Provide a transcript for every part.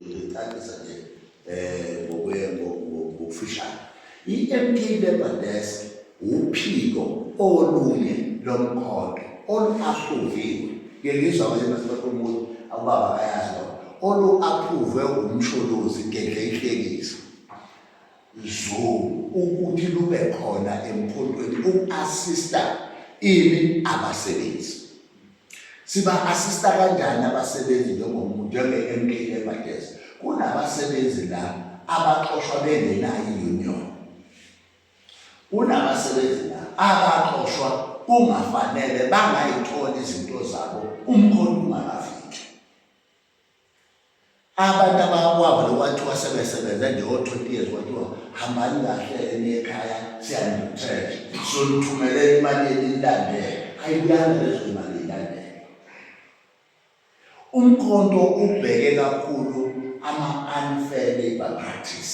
Ngicacisa nje eh ngokuye ngokufishana. I-MP Labour Desk wuphiko olunye lomkhonto olu-aphuviwe. Ngeke ngizwa ukuthi basibakhuluma ukuthi ababa bayazi lokho. Olu-aphuve umsholozi ngedla ihlekisa. Zungu ukuthi lube khona emkhontweni uku-assista ini abasebenzi. Siba-assista kanjani abasebenzi njengomuntu njenge-MK Labour Desk? Kunabasebenzi la abaxoshwa bengenayo i-union. Kunabasebenzi la abaxoshwa kungafanele bangayitholi izinto zabo umkhonto ungakafiki. abantu abakwabo lokwathiwa sebesebenze nje o-twenty years kwathiwa hambani kahle enye ekhaya siyanithesha sonithumele imali enilandele ayibuyanga lezo imali ilandele umkhonto ubheke kakhulu ama-unfair labor practice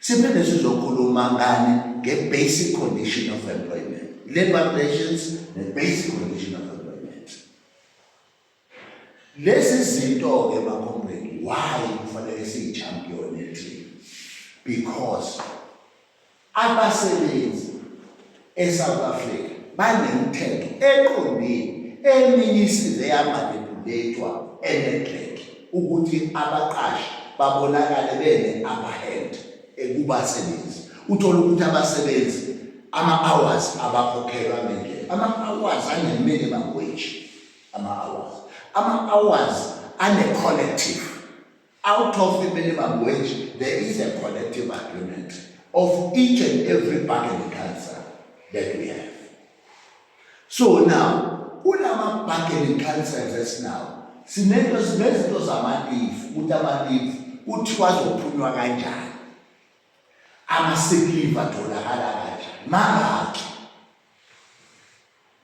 siphinde sizokhuluma ngani nge-basic condition of employment labor relations ne-basic condition of employment lezi zinto-ke bakhombeni why kufanele siyi-champion ethi because Abasebenzi eSouth Africa banemithetho eqondile eminye isize yamanipulethwa eNedbank ukuthi abaqashi babonakale bene-upperhand kubasebenzi. Uthole ukuthi abasebenzi ama-hours abakhokhelwa ngendlela, ama-hours ane-minimum wage ama-hours, ama-hours ane-collective Out of the minimum wage, there is a collective agreement of each and every bargaining council that we have. So now, kulama bargaining councils esinawo, sinento sinezinto zamalifu, ukuthi amalifu kuthiwa azophunywa kanjani. Ama sick leave atholakala kanjani? Mangakhi?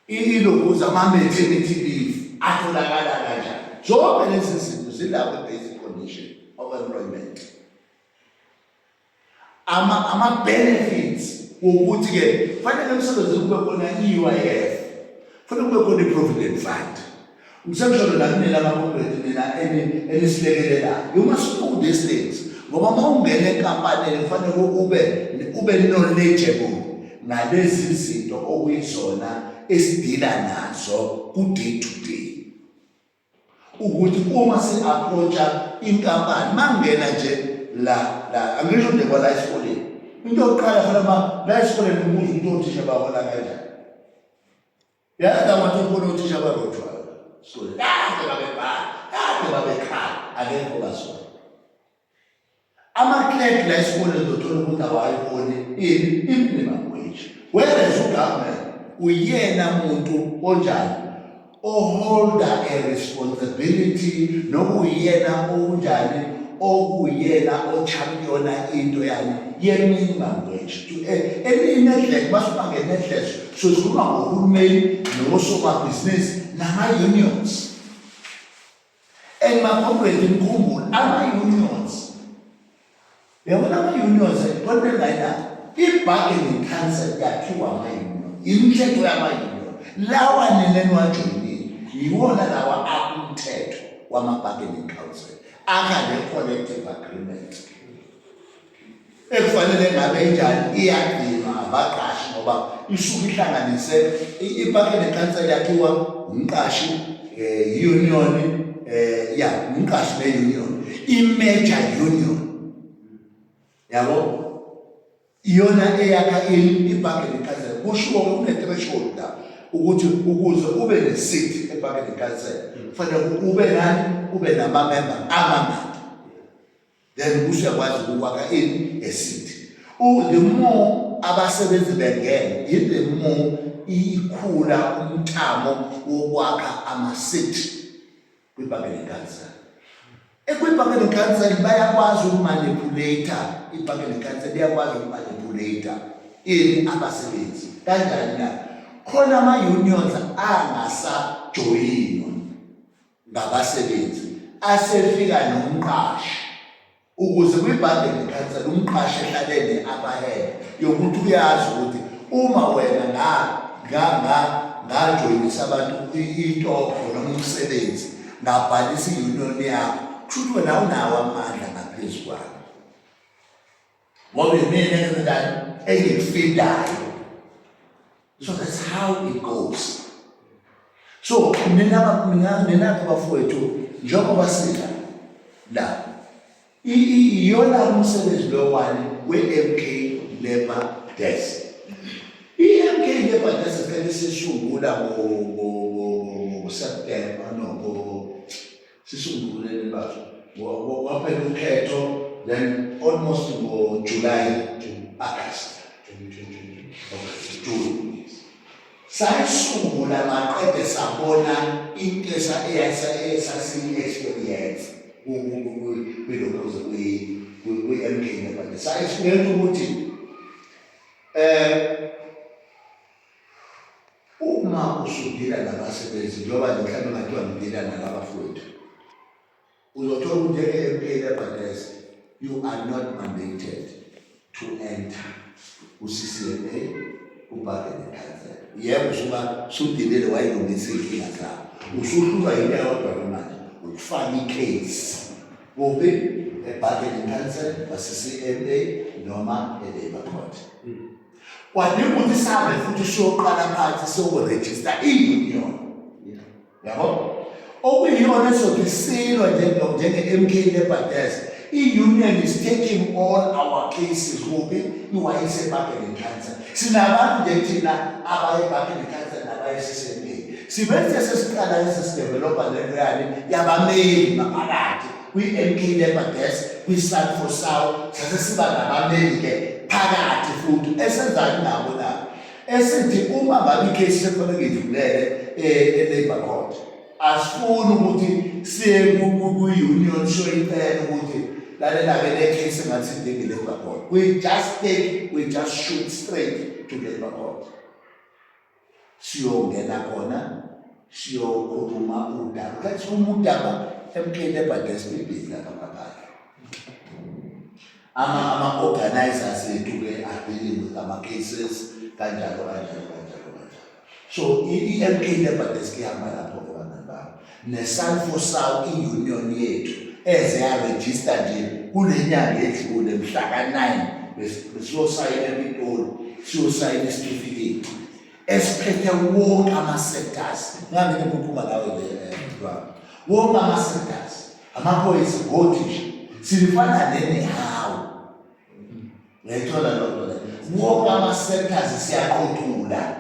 Ilobuza ama-maternity leave atholakala kanjani? Zonke lezi zinto zilapho i-basic condition of employment. Ama-benefits wokuthi-ke kufanele emsebenzini kube khona i-U_I_F, kufanele kube khona i-provident fund. Ngisemsholo la kunina abakhombethu nina enisilekelelayo. You must know these things. Ngoba uma ungena enkampanini kufanele ube ube knowledgeable ngalezi zinto okuyizona esidila nazo ku-day to day. Ukuthi uma si-approacha inkampani mangena nje la la angisho nje kwala esikoleni. Into yokuqala fanele uba la esikoleni ubuze ukuthi othisha bahola kanjani. yazi la mathi ukhona uthisha barojwayo so kade babebhala kade babekhala akekho basona ama-clerk la esikoleni uzothola umuntu awayiboni ini i-minimum wage whereas ugovernment uyena muntu onjani oholda a responsibility nokuyena onjani okuyena ochampiona into yani ye-minimum wage to eh, elinye nedleko basibangene nedleko Sozikhuluma ngohulumeni nosomabhizinisi nama-unions and makhomredi mkhumbule ama-unions yabona ama-unions kodwelaila i-bargaining council yakhiwa ama-union imithetho yama-union lawa nina niwajoyinile yiwona lawa akumthetho wama-bargaining council akale-collective agreement ekufanele ngabe injani iyagcinwa abaqashi ngoba isuke ihlanganise ipake nenkansela yakhiwa umqashi eh union eh ya umqashi be union i major union yabo iyona eyakha ipake nenkansela kushiwo kune threshold la ukuthi ukuze ube ne seat epake nenkansela kufanele ube nani ube nama member amangaki then usuyakwazi ukwakha ini esithi u the more abasebenzi bengene in the more ikhula umthamo wokwakha amasithi kwibhange lenkansela ekwibhange lenkansela bayakwazi ukumanipulata ibhange lenkansela liyakwazi ukumanipulata ini abasebenzi kanjani na khona ama-unions angasajoyini ngabasebenzi asefika nomqashi ukuze kwibhangele ikhansela umqashi ehlalele abahele yokuthi uyazi ukuthi uma wena nga nga nga ngajoyinisa abantu itokho noma umsebenzi ngabhalisa i-union yakho kusho ukuthi wena awunawo amandla ngaphezu kwakho Ngoba imina enzenzayo engikufidayo. So that's how it goes. So nina mina nina bafowethu njengoba sila la iyona umsebenzi lo wani we-MK Labour Desk. I-MK Labour Desk kanti sisungula ngo-September no sisungule le mbatho waphela ukhetho then almost ngo-july to august 2022 june sayisungula maqede sabona into esasini-experience kwilokhuze kwi-mk nebande sayisibeka ukuthi um Uma usudila nabasebenzi njengoba nje mhlawumbe ngathiwa ngidila nalabafowethu uzothola ukuthi njenge-mp lebhadese you are not mandated to enter ku-ccma ubhake nekhansela yebo usuba sudilile wayilungisa iy'nkinga zabo usuhlulwa yinto yodwa lomanje ukufaka icase kuphi ebhake nekhansela kwa-ccma noma e-labour court hmm. kwadinga ukuthi sihambe futhi siyoqala phansi siyokurejista i-union yabo okuyiyona ezothi isilwa njenge-mk nebhadesi i-union is taking all our cases kuphi iwayise ebuckingham council sinabantu nje thina abaye ebuckingham council nabaye sisemeni sibenze sesiqala lesi sidevelopha lento yani yabameli ngaphakathi kwi-MK Labour Desk kwi-Sun for South sase siba nabameli-ke phakathi futhi esenzani nabo na esithi uma ngabe ikhesi sekufanele ngidlulele eh, e-labour court asifuni ukuthi siye kwi-union show icela ukuthi lalela-ke le case engathi ndingi-labour court we just take we just shoot straight to labour court siyongena khona siyokhuluma udaba kanti uma udaba emkeni ebhadesi ibhizi lapha ngaphandle ama ama organizers ethu ke are dealing with ama cases kanjalo kanjalo kanjalo kanjalo so i MK ebhadesi kuyahamba lapho neSalfosal i-union yethu eze yarejista nje kule nyanga edlule mhla ka-9 besiyosayina ePitoli siyosayina isitifiketi esiphethe wonke ama-sectors ngange ngiphuma nawe le eh, wonke ama-sectors amaphoyisa ngothisha silifana nenehawu ngayithola loo nto le wonke ama-sectors siyaqothula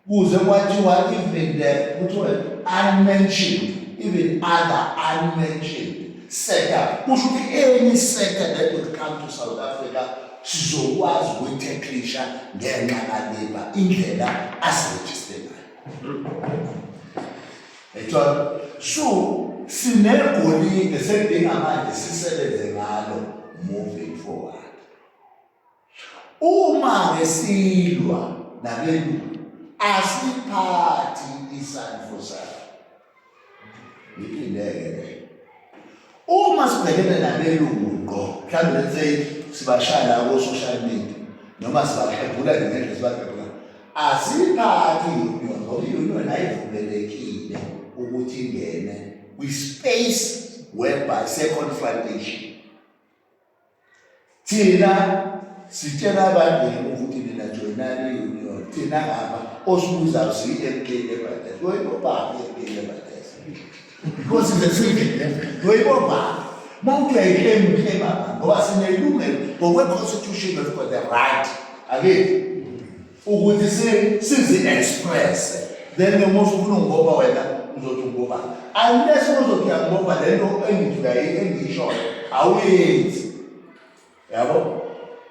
kuze kwathiwa even the kuthiwa unmentioned even other unmentioned sector kusho ukuthi any sector that would come to south africa sizokwazi ukuyitheklisha ngenxa kaliba indlela asirejiste ngayo ethola so sinegolide sedinga manje sisebenze ngalo moving forward Uma ngesilwa nabelungu asiphathi isandfu sakhe. Ngilindeke ke. Uma sibhekene nabelungu ngqo, mhlawumbe let's say sibashaya la ko social media noma sibahebhula ngendlela sibahebhula. Asiphathi union ngoba i-union ayivumelekile ukuthi ingene kwi-space whereby se-confrontation thina sitshela abangene ukuthi nina joyinani i-union thina ngaba osibuzayo siyi-mk lebates loyibobani i-mk lebates because the civil loyibobani uma uthi uyayiklemu uklema ngoba sinelungelo ngokwe-constitution of the right akethi ukuthi si sizi express then noma ufuna ungiboba wena uzothi ungiboba unless uzothi uyangiboba le nto engidlula engiyishoyo awuyenzi yabo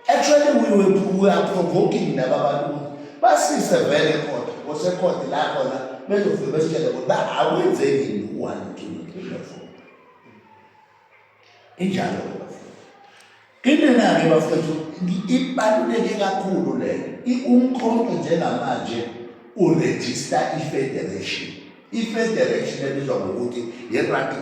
actually we were, we are provoking laba bantu ukuthi basise vele khona kosekhodi la khona bezofike besitshele ukuthi ba akwenzeki yini u-one two three four Injalo ke bafowethu. Indlela ke bafowethu ibaluleke kakhulu leyo. Umkhonto njengamanje uregister i-federation. I-federation ebizwa ngokuthi yi-rugby